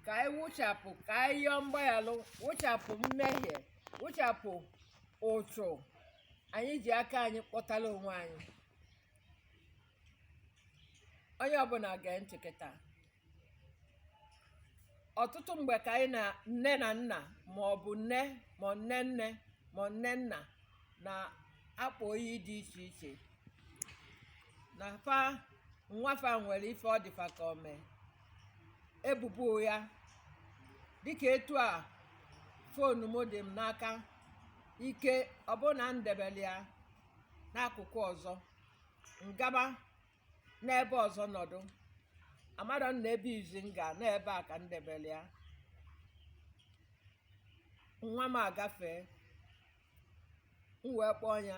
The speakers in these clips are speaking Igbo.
ka anyị wụchapụ ka anyị yọọ mgbaghalụ wụchapụ mmehie wụchapụ ụchụ anyị ji aka anyị kpọtara onwe anyị onye ọbụna gee ntị kịta ọtụtụ mgbe ka anyị na nne na nna ma ọ bụ nne ma nne nne ma nne nna na-akpọ iyi dị iche iche na fa nwa fa nwere ife ọ dị fa ka o me ebubo ya dịka etu a fonu m dị m n'aka ike ọ bụ na m debere ya n'akụkụ ọzọ m gaba n'ebe ọzọ nọdụ amarọ m na ebe izi m ga n'ebe a ka m debere ya nwa m agafee m wee kpọọ ya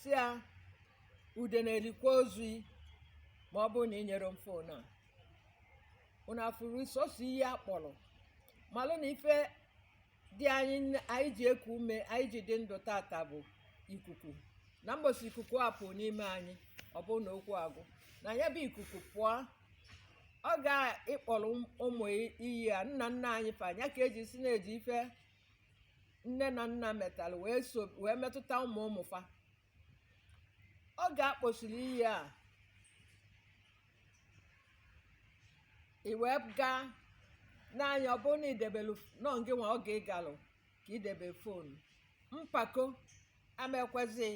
sị ya udene erikwa ozu yi ma ọ bụrụ na i nyerọ m fon a unu afụrụ sọsọ iyi a kpọrọ malụ na ife dị anyị ji eku ume anyị ji dị ndụ tata bụ ikuku na mbọsị ikuku a pụọ n'ime anyị ọ bụrụ na okwu agwụ na ya bụ ikuku pụọ oge ị kpọrọ ụmụ iyi a nna nna anyị fa nya ka e ji sị na e ji ife nne na nna metara wee metụta ụmụ ụmụ fa oge a kpọsịrị iyi a iwe gaa n'anya ọ bụrụ na i debelu na ọ gị nwa oge ị galụ ka i debe fonu mpako ama ekwezi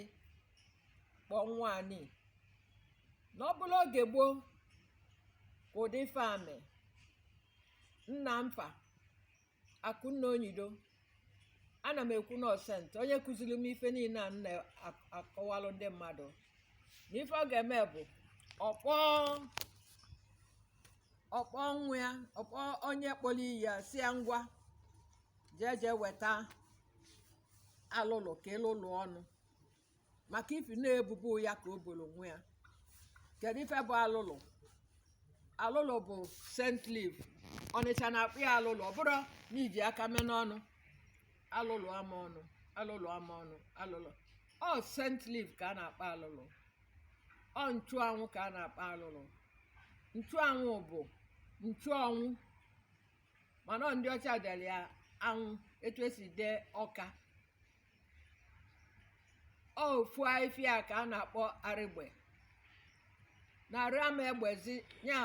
kpọọ nwa yị na ọ bụrụ oge gboo ka ụdị ife a mee nna m fa Akunna Onyido ana m ekwu na ọ saint onye kụziri m ife niile a m na-akọwalụ ndị mmadụ na ife ọ ga-eme bụ ọ kpọọ nwa ya ọ kpọọ onye kpọrọ iyi a sị ya ngwa jee jee weta alụlụ ka ị lụlụ ọnụ maka ifi na ebubo ya ka o boro nwa ya kedu ife bụ alụlụ alụlụ bụ scent leaf Ọnịcha na-akpọ ya alụlụ ọ bụrụ na i ji aka mee n'ọnụ alụlụ ama ọnụ alụlụ ama ọnụ alụlụ ọ scent leaf ka a na-akpọ alụlụ ọ nchụanwụ ka a na-akpọ alụlụ nchụanwụ bụ nchụanwụ mana ọ ndị ọcha dere ya anwụ etu esi dee ọka ọ ofu afịfịa ka a na-akpọ arịgbe na arụ ama egbezi nya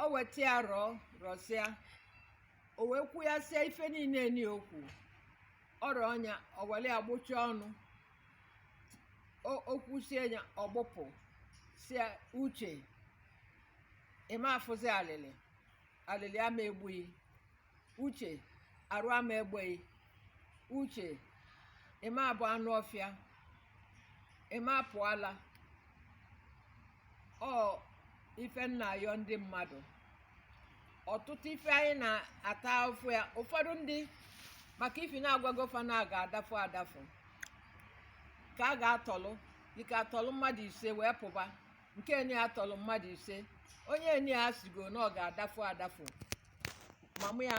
o weta ya rọọ rọsịa o wee kwu ya sie ife niile n'okwu ọrịa ọnya o welụ ya gbụcha ọnụ O- o kwusie ya ọ gbụpụ sị uche ịma afụzi alịlị alịlị ama egbughị uche arụ ama egbeghị uche ịma abụ anụ ọfịa ịma apụ ala ọ ife m na-ayọ ndị mmadụ ọtụtụ ife anyị na-ata afụfụ ya ụfọdụ ndị maka ife na-agwago fa na a ga-adafụ adafụ ka a ga-atọlụ dịka a tọlụ mmadụ ise wee pụba nke enyi ya tọlụ mmadụ ise onye enyi ya sịgo na ọ ga-adafụ adafụ ma mụ ya